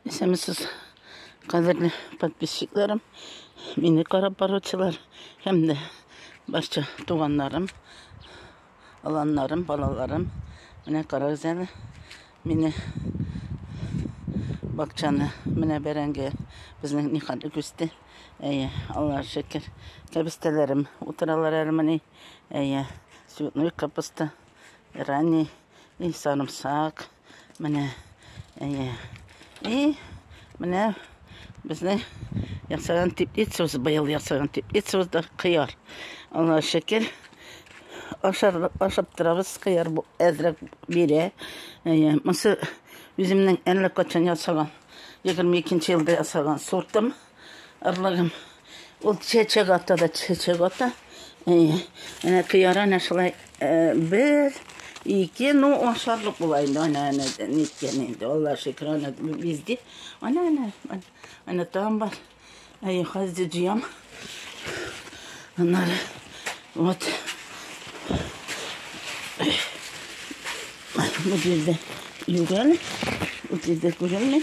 Исәнмесез, кадерле подписчикларым, мине карап баручылар һәм дә барча туганнарым, аланнарым, балаларым. Менә карагыз әле, мине бакчаны, менә бәрәңге безнең никадәр үсте. Әйе, Аллаһ шөкер. Кәбестәләрем утыралар әле менә. Әйе, цветной капуста, ранний, и сарымсак. Менә, әйе. И, менә безнең ясаган теплицабыз быел ясаган теплицабызда кыяр. Аллаһ шөкер, ашар, ашап торабыз, кыяр әзрәк бирә. Әйе, монсы үземнең әллә качан ясаган, 22 елда ясаган сортым. Орлыгым. Ул чәчәк ата да чәчәк ата. Әнә кыяра әнә шулай бер, ике, ну ашарлык була инде. Әнә әнә ниткән инде. Алла шөкер, әнә бизди. Әнә әнә әнә там бар. Әй, хәзер җыям. Аннары вот bu yerda yuguradi bu yerda ko'rinmaydi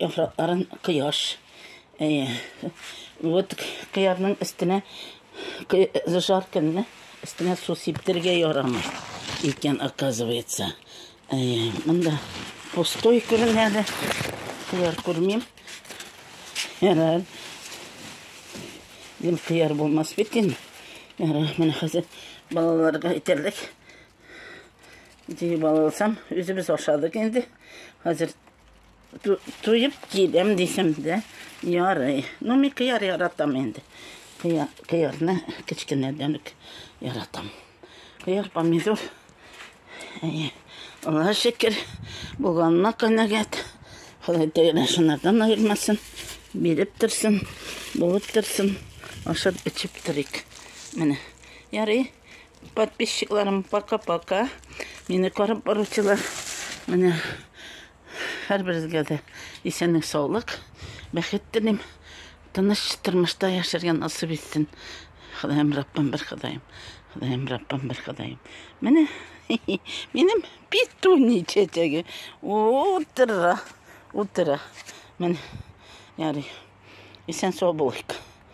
Яфракларын кояш. Әйе. Вот кыярның өстенә жаркынны өстенә су сиптергә ярамый икән, оказывается. Әйе, монда пустой күренә дә. Кыяр күрмим. Ярар. Дим кыяр булмас бит инде. Ярар, менә хәзер балаларга әйтерлек. Җыеп алсам, үзебез ашадык инде. Хәзер Туеп киләм дисәм дә ярый. Ну, мин кыяр яратам инде. Кыяр, кыярны кечкенәдән үк яратам. Кыяр, помидор. Әйе. Аллаһ шөкер, булганына канәгать. Ходай тәгәлә шунардан аермасын. Биреп торсын, булып торсын. Ашап эчеп торыйк. Менә. Ярый. Подписчикларым, пока-пока. Мине карап баручылар. Менә Һәрберегезгә дә исәнлек-саулык, бәхет телим. Тыныч тормышта яшәргә насыйп итсен. Ходаем Раббым бер Ходаем. Ходаем Раббым бер Ходаем. Менә минем петуни чәчәге утыра, утыра. Менә ярый. Исән-сау булыйк.